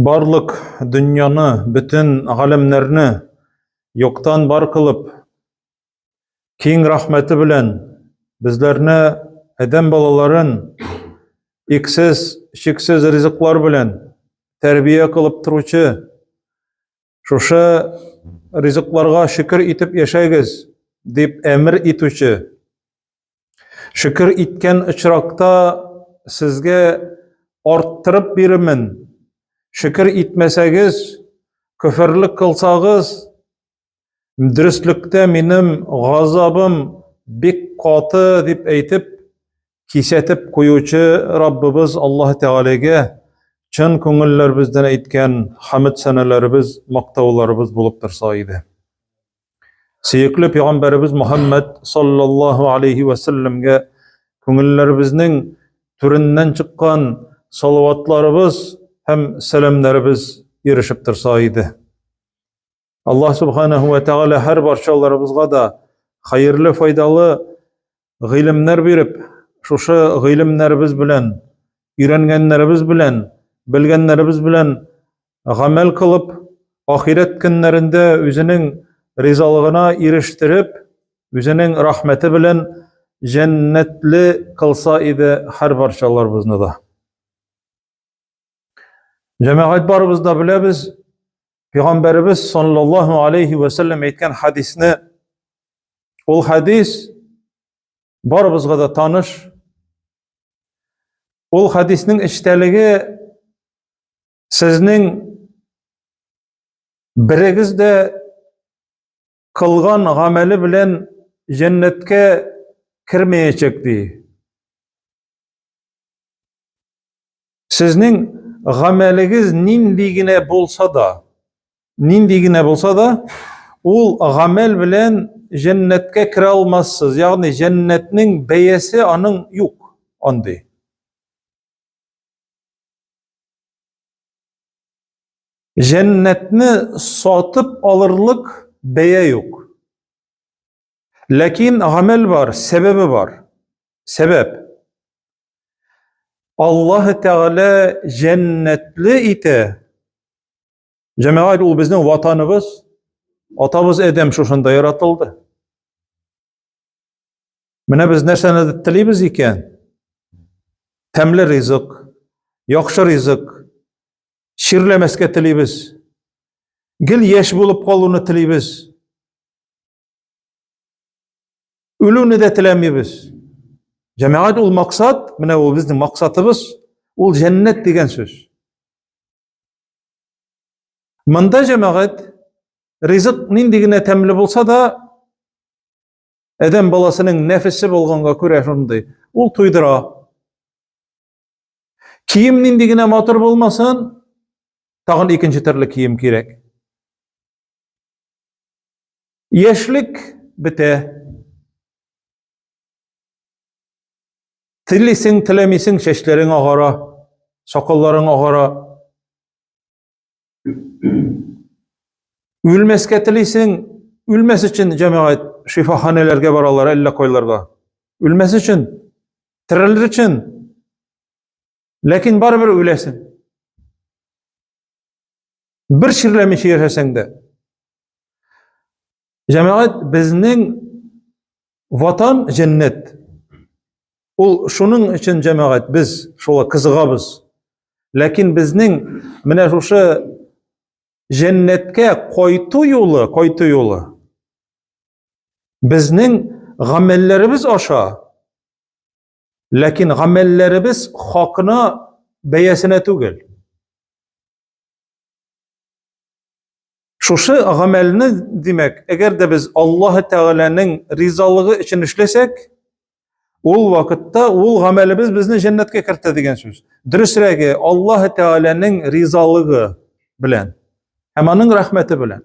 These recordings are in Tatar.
Барлык дөньяны, бөтен галәмнәрне юктан бар кылып, киң рәхмәте белән безләрне адәм балаларын иксез, шиксез ризыклар белән тәрбия кылып торучы Шушы ризыкларга шөкер итеп яшәгез, дип әмер итүче. Шөкер иткән очракта сезгә арттырып бирмен. Шөкер итмәсәгез, көферлек кылсагыз, дөреслектә минем газабым бик каты дип әйтеп, кисәтеп куючы Раббыбыз Аллаһ Тәгаләгә чын күңелләребездән әйткән хамид сәнәләребез, мактауларыбыз булып торса иде. Сөекле пәйгамбәребез Мөхәммәд саллаллаһу алейхи ва салламга күңелләребезнең түреннән чыккан салаватларыбыз һәм сәламнәребез ирешеп торса иде. Аллаһ субханаһу ва тәгалә һәр барчаларыбызга да хәерле, файдалы гыйлемнәр биреп, шушы гыйлемнәребез белән, өйрәнгәннәребез белән, белгәннәребез белән гамәл кылып, ахирәт көннәрендә үзенең ризалыгына ирештереп, үзенең рәхмәте белән җәннәтле кылса иде һәр барчаларыбызны да. Җәмәгать барыбыз да беләбез, Пәйгамбәребез саллаллаһу алейхи ва саллям әйткән хадисне. Ул хадис барыбызга да таныш. Ул хадиснең эчтәлеге сезнең берегез дә кылган гамәле белән җәннәткә кермәячәк ди. Сезнең гамәлегез нинди генә булса да, нинди генә булса да, ул гамәл белән җәннәткә керә алмассыз. Ягъни җәннәтнең бәясе аның юк андый. Җәннәтне сатып алырлык бәя юк. Ләкин гамәл бар, сәбәбе бар. Сәбәп. Аллаһ Тәгалә җәннәтле итә. Җәмәгать ул безнең ватаныбыз. Атабыз Адәм шушында яратылды. Менә без нәрсәне телибез икән? Тәмле ризык, яхшы ризык, чирләмәскә телибез. Гел яшь булып калуны телибез. Үлүне дә теләмибез. Җәмәгать ул максат, менә ул безнең максатыбыз, ул җәннәт дигән сүз. Монда җәмәгать ризык нинди генә тәмле булса да, Әдәм баласының нәфесе булганга күрә шундый, ул туйдыра. Кием нинди генә матур булмасын, тагын икенче төрле кием кирәк. Яшьлек бетә. Телисең, теләмисең, чәчләрең агара, сакалларың агара. Үлмәскә телисең, үлмәс өчен җәмәгать шифаханәләргә баралар, әллә кайларга. Үлмәс өчен, терелер өчен. Ләкин барыбер үләсең. Бер ширләмичә яшәсәң дә. Җәмәгать безнең ватан җәннәт. Ул шуның өчен җәмәгать без шулай кызыгабыз. Ләкин безнең менә шушы җәннәткә кайту юлы, кайту юлы безнең гамәлләребез аша Ләкин гамәлләребез хакына бәясенә түгел. Шушы гамәлне, димәк, әгәр дә без Аллаһ Тәгаләнең ризалыгы өчен эшләсәк, ул вакытта ул гамәлебез безне җәннәткә кертә дигән сүз. Дөресрәге, Аллаһ Тәгаләнең ризалыгы белән һәм аның рәхмәте белән.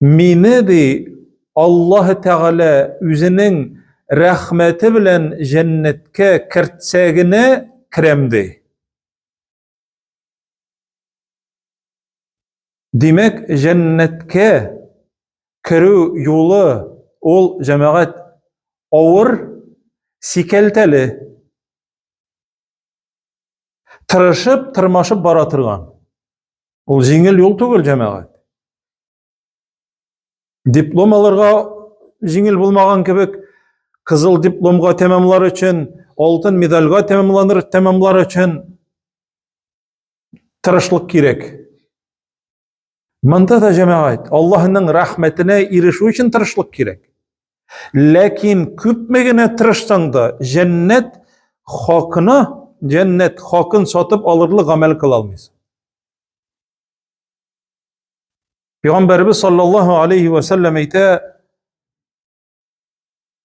Мине ди Аллаһ Тәгалә үзенең рәхмәте белән җәннәткә кертсә генә керәм ди. Димәк, җәннәткә керү юлы ул җәмәгать авыр, сикәлтәле. Тырышып, тырмашып бара торган. Ул җиңел юл түгел, җәмәгать. Диплом алырга җиңел булмаган кебек, кызыл дипломга тәмамлар өчен, алтын медальга тәмамланыр тәмамлар өчен тырышлык кирәк. Монда да җәмәгать, Аллаһның рәхмәтенә ирешү өчен тырышлык кирәк. Ләкин күпме генә тырышсаң да, җәннәт хакына, җәннәт хакын сатып алырлык гамәл кыла алмыйсың. Пәйгамбәрбез саллаллаһу алейхи ва саллям әйтә,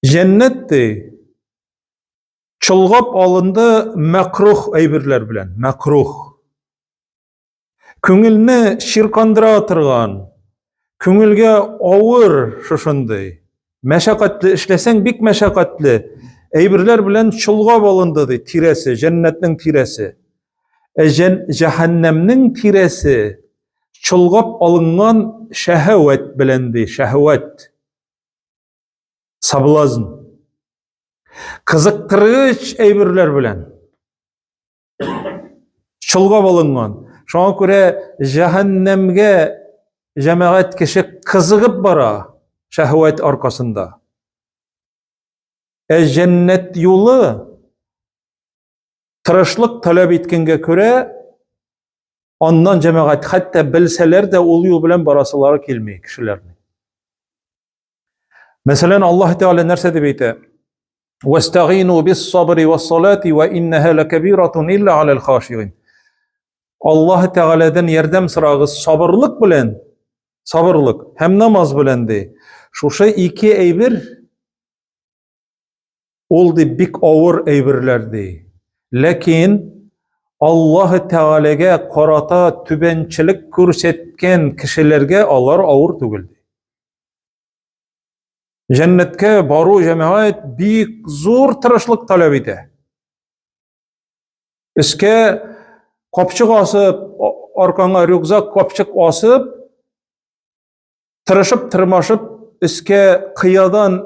җәннәт ди, чолгап алынды мәкрух әйберләр белән, мәкрух. Күңелне чиркандыра торган, күңелгә авыр шушындый. Мәшәкатьле эшләсәң бик мәшәкатьле. Әйберләр белән чолга балынды ди, тирәсе, җәннәтнең тирәсе. Ә җән, җәһәннәмнең тирәсе чолгап алынган шәһәвәт белән ди, шәһәвәт. Соблазн. Кызыктыргыч әйберләр белән. чолгап алынган. Шуңа күрә җәһәннәмгә җәмәгать кеше кызыгып бара шәһвәт аркасында. Ә җәннәт юлы тырышлык таләп иткәнгә күрә аннан җәмәгать хәтта белсәләр дә ул юл белән барасылары килми кешеләрнең. Мәсәлән, Аллаһ Тәгалә нәрсә дип әйтә? Вастагину бис-сабри вас-салати ва иннаһа лакабиратун илла алал хашигин. Аллаһ Тәгаләдән ярдәм сорагыз сабырлык белән, сабырлык һәм намаз белән ди. Шушы ике әйбер Ул ди бик авыр әйберләр ди. Ләкин Аллаһы Тәгаләгә карата түбәнчелек күрсәткән кешеләргә алар авыр түгел ди. Җәннәткә бару җәмәгать бик зур тырышлык таләп итә. Искә капчык асып, аркаңа рюкзак капчык асып, тырышып тырмашып өскә кыядан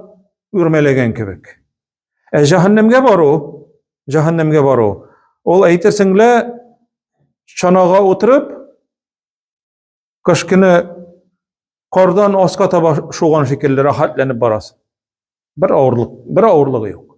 үрмәләгән кебек. Ә җәһәннәмгә бару, җәһәннәмгә бару, ул әйтерсең лә чанага утырып кыш көне кардан аска таба шуган шикелле рәхәтләнеп барасың. Бер авырлык, бер авырлыгы юк.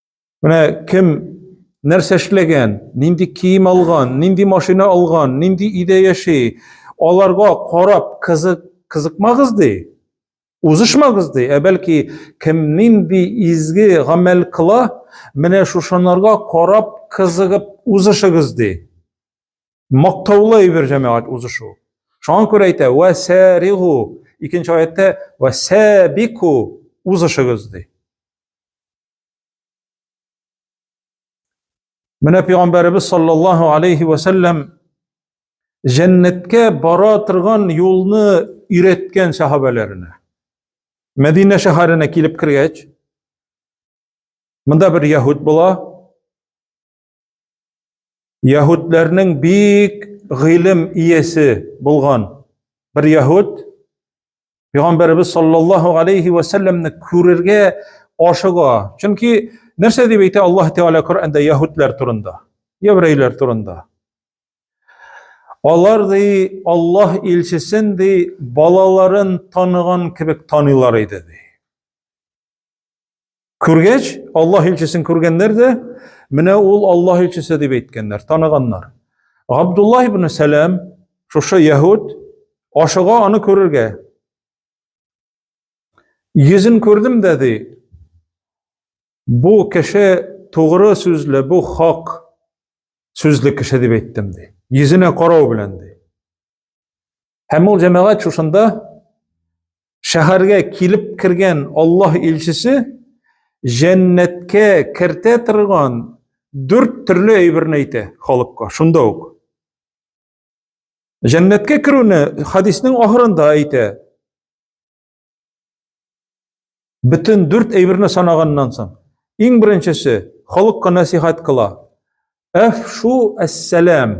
Менә кем нәрсә эшләгән, нинди кием алган, нинди машина алган, нинди өйдә яши, аларга карап кызык кызыкмагыз ди. Узышмагыз ди, ә бәлки кем нинди изге гамәл кыла, менә шушынарга карап кызыгып узышыгыз ди. Мактаулы әйбер җәмәгать узышу. Шуңа күрә әйтә, "Ва саригу" икенче аятта "Ва сабику" узышыгыз ди. Менә пәйгамбәребез саллаллаһу алейхи ва сәлләм җәннәткә бара торган юлны өйрәткән сахабәләренә. Мәдинә шәһәренә килеп кергәч, монда бер яһүд була. Яһүдләрнең бик гыйлем иясе булган бер яһүд Пәйгамбәрбез саллаллаһу алейхи ва сәлламне күрергә ашыга. Чөнки нәрсә дип әйтә Аллаһ Тәгалә Коръәндә яһүдләр турында, еврейлар турында? Алар ди Аллаһ илчесен ди балаларын таныган кебек таныйлар иде ди. Күргәч, Аллаһ илчесен күргәннәр дә, менә ул Аллаһ илчесе дип әйткәннәр, таныганнар. Габдулла ибн Сәлам, шушы яһуд, ашыга аны күрергә. Йөзен күрдем дә ди, бу кеше тугры сүзле, бу хак сүзле кеше дип әйттем ди. Йөзенә карау белән ди. Һәм ул җәмәгать шушында шәһәргә килеп кергән Аллаһ илчесе җәннәткә кертә торган дүрт төрле әйберне әйтә халыкка. Шунда ук. Җәннәткә керүне хадиснең ахырында әйтә. Бөтен дүрт әйберне санаганнан соң, иң беренчесе халыкка насихат кыла. Әфшу әссәлам.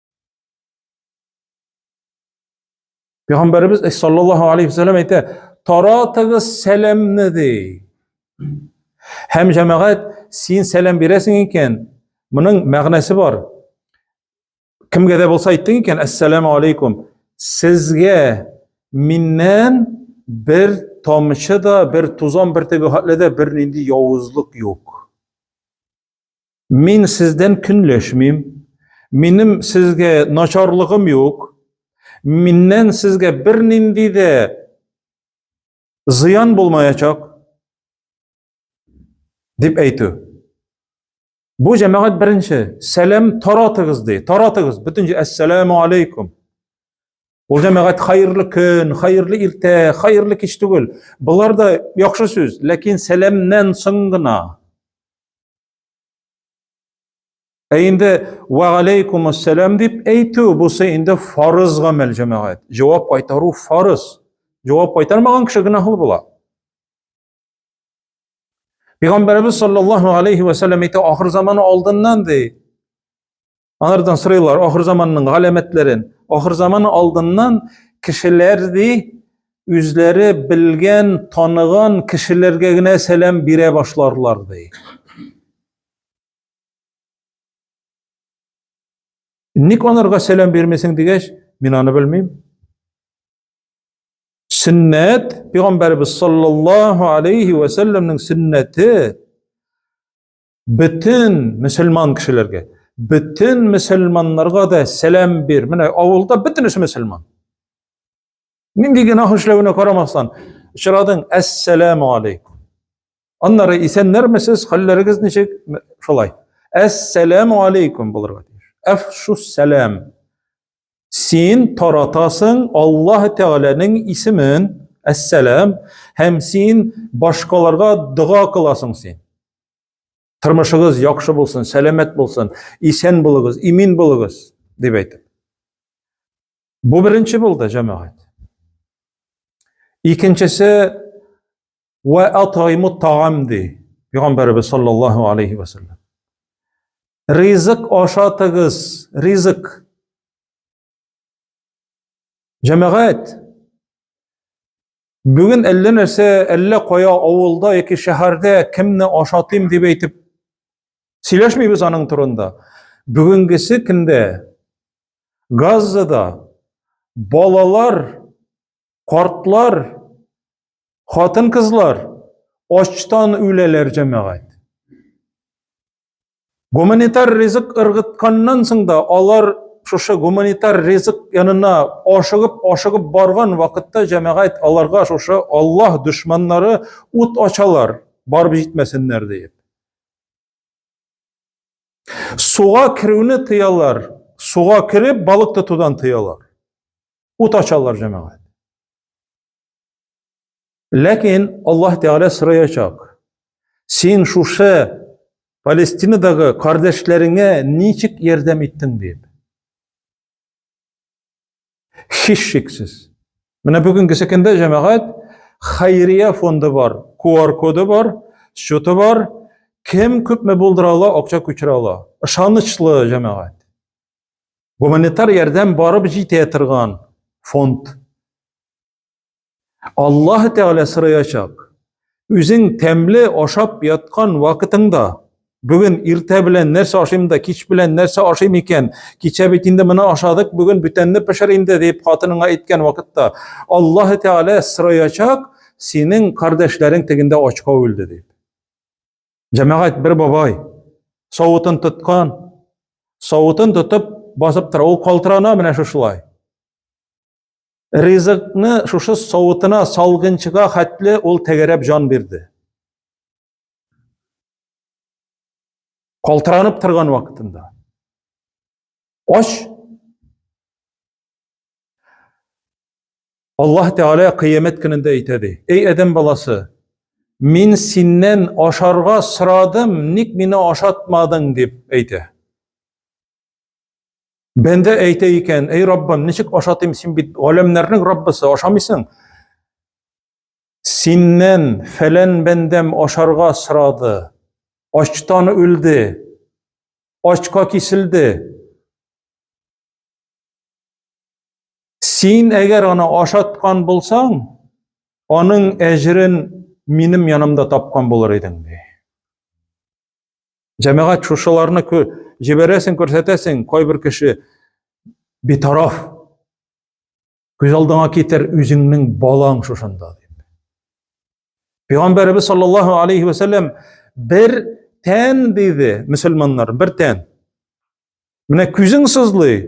Пәйгамбәребез саллаллаһу алейхи ва саллям әйтә, "Таратыгыз сәламне" ди. Һәм җәмәгать, син сәлам бирәсең икән, моның мәгънәсе бар. Кемгә дә булса әйттең икән, "Ассаламу алейкум". Сезгә миннән бер тамчы да, бер тузан бөртеге хәтле дә бернинди явызлык юк. Мин сездән көнләшмим. Минем сезгә начарлыгым юк. Миннән сезгә бернинди дә зыян булмаячак дип әйтү. Бу җәмәгать беренче сәлам таратыгыз ди. Таратыгыз бөтенче әссәламу алейкум. Ул җәмәгать хәерле көн, хәерле иртә, хәерле кич түгел. Болар да яхшы сүз, ләкин сәламнән соң гына. Ә инде ва алейкум ассалам дип әйтү бусы инде фарыз гамәл җәмәгать. Җавап кайтару фарыз. Җавап кайтармаган кеше гөнаһлы була. Пәйгамбәрбез саллаллаһу алейхи ва саллям әйтә, ахыр заманы алдыннан ди. Анардан сырыйлар, ахыр заманның галәмәтләрен. Ахыр заман алдыннан кешеләр ди, үзләре белгән, таныган кешеләргә генә сәлам бирә башларлар ди. Ник анарга сәлам бирмисең дигәч, мин аны белмим. Сөннәт, пәйгамбәрбез саллаллаһу алейхи ва сәлламнең сөннәте Бөтен мөселман кешеләргә, бөтен мөселманнарга да сәлам бир. Менә авылда бөтенесе мөселман. Нинди генә эшләвенә карамастан, очрадың, әссәламу алейкум. Аннары исәннәрмесез, хәлләрегез ничек? Шулай. Әссәламу алейкум булырга тиеш. Әфшу сәлам. Син таратасың Аллаһ Тәгаләнең исемен, Әссәлам, һәм син башкаларга дога кыласың син. Тормышыгыз яхшы булсын, сәламәт булсын, исән булыгыз, имин булыгыз, дип әйтеп. Бу беренче булды, җәмәгать. Икенчесе Вә атайму тагам ди. Пәйгамбәрбез саллаллаху алейхи ва саллям. Ризык ашатыгыз, ризык. Җәмәгать, бүген әллә нәрсә, әллә кая авылда яки шәһәрдә кемне ашатыйм дип әйтеп сөйләшмибез аның турында. Бүгенгесе көндә Газзада балалар, картлар Хатын кызлар ачтан үләләр җәмәгать. Гуманитар ризык ыргытканнан соң да алар шушы гуманитар ризык янына ашыгып ашыгып барган вакытта җәмәгать аларга шушы Аллаһ дошманнары ут ачалар, барып җитмәсеннәр диеп. Суга керүне тыялар, суга кереп балык тотудан тыялар. Ут ачалар җәмәгать. Ләкин Аллаһ Тәгалә сораячак. Син шушы Палестинадагы кардәшләреңә ничек ярдәм иттең дип. Һичшиксез. Менә бүгенге секендә җәмәгать Хайрия фонды бар, QR коды бар, счеты бар. Кем күпме булдыра ала, акча күчерә ала. Ышанычлы җәмәгать. Гуманитар ярдәм барып җитә торган фонд. Аллаһ Тәгалә сорыячак. Үзең тәмле ашап яткан вакытыңда Бүген иртә белән нәрсә ашыйм да, кич белән нәрсә ашыйм икән? Кичә бит инде моны ашадык, бүген бүтәнне пешер инде дип хатыныңа әйткән вакытта Аллаһ Тәгалә сыраячак, синең кардәшләрең тегендә ачка үлде дип. Җәмәгать бер бабай савытын тоткан, савытын тотып басып тора. Ул калтырана менә шушылай. Ризыкны шушы савытына салгынчыга хәтле ул тәгәрәп җан бирде. Калтыранып торган вакытында. Ач Аллаһ Тәгалә кыямәт көнендә әйтә ди: "Эй адәм баласы, мин синнән ашарга сорадым, ник мине ашатмадың?" дип әйтә. Бәндә әйтә икән: "Эй Раббым, ничек ашатыйм, син бит галәмнәрнең Раббысы, ашамыйсың?" Синнән фәлән бәндәм ашарга сорады, ачтан үлде, ачка киселде. Син әгәр аны ашаткан булсаң, аның әҗрен минем янымда тапкан булыр идең ди. Җәмәгать шушыларны җибәрәсең, күрсәтәсең, кайбер кеше битараф. Күз алдыңа китер үзеңнең балаң шушында дип. Пәйгамбәрбез саллаллаһу алейхи ва сәлләм бер тән диде, мусламаннар, бер тән. Менә күзең сызлый.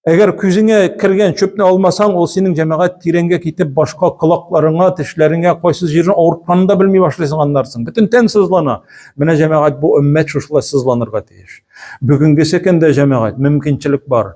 Әгәр күзеңә кергән чөпне алмасаң, ул синең җәмәгать тирәнгә китеп, башка колакларыңа, тешләреңә, кайсы җирне авыртканын да белми башлыйсың аннарсың. Бөтен тән сызлана. Менә җәмәгать бу өммәт шушылай сызланырга тиеш. Бүгенге секендә җәмәгать мөмкинчелек бар.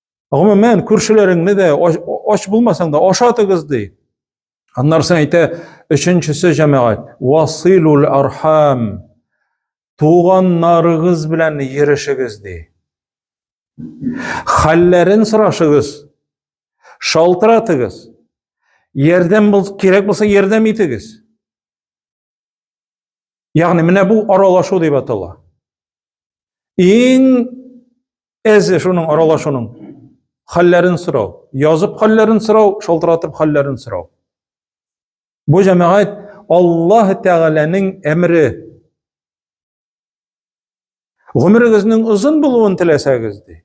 Гомумән, күршеләреңне дә ач булмасаң да ашатыгыз ди. Аннарсын әйтә, өченчесе җәмәгать, василул архам. Туганнарыгыз белән йөришегез ди. Хәлләрен сорашыгыз. Шалтыратыгыз. Ярдәм кирәк булса ярдәм итегез. Ягъни менә бу аралашу дип атала. Иң әзе шуның аралашуның хәлләрен сорау, язып хәлләрен сорау, шалтыратып хәлләрен сорау. Бу җәмәгать Аллаһ Тәгаләнең әмре. Гомерегезнең озын булуын теләсәгез, ди.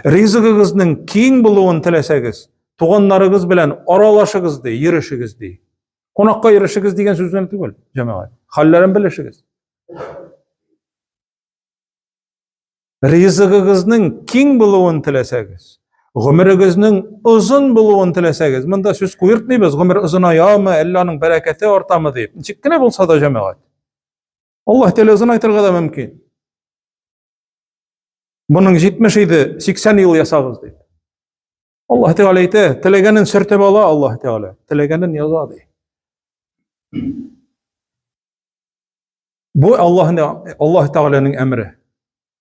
Ризыгыгызның киң булуын теләсәгез, туганнарыгыз белән аралашыгыз, ди, йөрешегез, ди. Кунакка йөрешегез дигән сүз генә түгел, җәмәгать. Хәлләрен белешегез. Ризыгыгызның киң булуын теләсәгез, гомерегезнең озын булуын теләсәгез, монда сүз куертмыйбыз, гомер озынаямы, әллә аның бәрәкәте артамы дип. Ничек кенә булса да җәмәгать. Аллаһ Тәгалә озын айтырга да мөмкин. Моның 70 иде, 80 ел ясагыз ди. Аллаһ Тәгалә әйтә, теләгәнен сөртеп ала Аллаһ Тәгалә, теләгәнен яза ди. Бу Аллаһның Аллаһ Тәгаләнең әмре.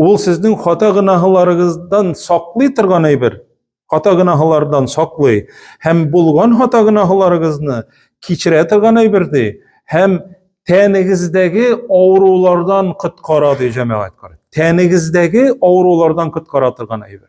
Ул сезнең хата гынаһларыгыздан саклый торган әйбер, хата гынаһлардан саклый һәм булган хата гынаһларыгызны кичерә торган әйбер ди һәм тәнегездәге авырулардан коткара ди җәмәгать карый. Тәнегездәге авырулардан коткара торган әйбер.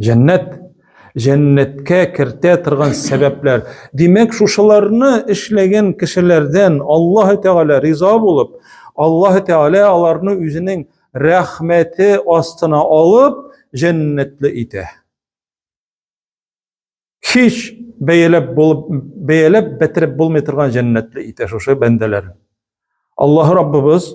Җәннәт җәннәткә кертә торган сәбәпләр. Димәк, шушыларны эшләгән кешеләрдән Аллаһ Тәгалә риза булып, Аллаһ Тәгалә аларны үзенең рәхмәте астына алып, җәннәтле итә. Һич бәяләп булып, бәяләп бетереп булмый торган җәннәтле итә шушы бәндәләр. Аллаһ Раббыбыз